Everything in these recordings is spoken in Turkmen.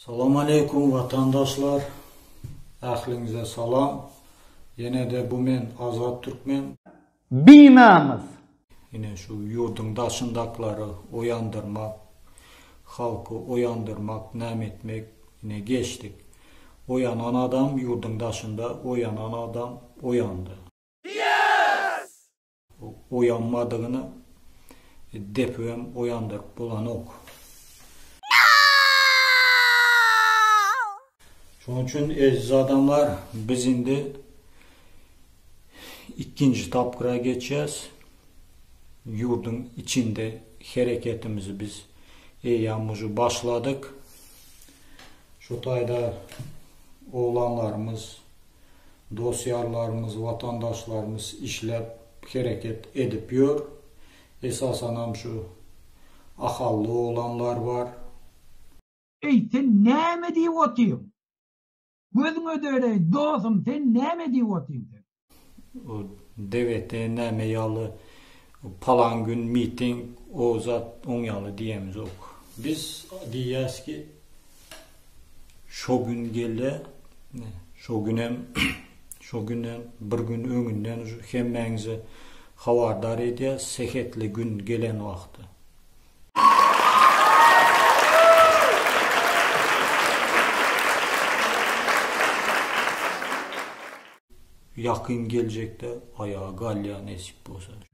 Salam aleýkum watandaşlar ähliňize salam ýenede bu men azat türkmen. Binamys. Ine şu ýurduň daşyndaklary oýandyrmak, halky oýandyrmak näme etmek ine geçdik. Oýanan adam ýurduň daşynda oýanan adam oýandy. Oýanmadygyna depibem oýandyryp bolanok. Şonuň üçin eziz adamlar, biz indi ikinji tapgyra geçýäs. Ýurduň içinde hereketimizi biz eýýäm uje başladyk. Şu taýda oglanlarymyz, Dos-ýarlarymyz, watandaşlarymyz işläp, hereket edip ýör. Esasanam şu ahally oglanlar bar. Eý, sen näme edip otyň? Gözüň ödereý, dosum, sen näme edip otyň sen? O DGT näme ýaly, palan gün miting, o zat, oň ýaly diýemizok. Biz diýýäs ki, şo gün gelýä, şo günem şo günden bir gün öňünden hemmäňizi habardar edýäs sehetli gün gelen wagty. Ýakyn geljekde aýaga galýa nesip bolsa.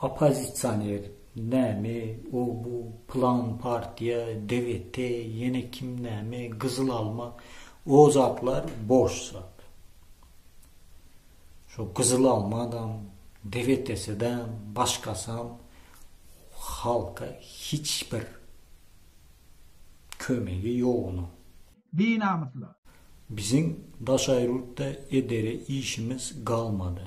Oppozisioner, näme, o, bu, pylan partiýa, DGT, ýene kim näme, gyzyl alma, o zatlar boş zat. Şo gyzyl almadam, DGT-sidäm, başgasam halka hiç bir kömegi ýok onuň. Binamyslar. Biziň daşaýrurtda edere işimiz galmady.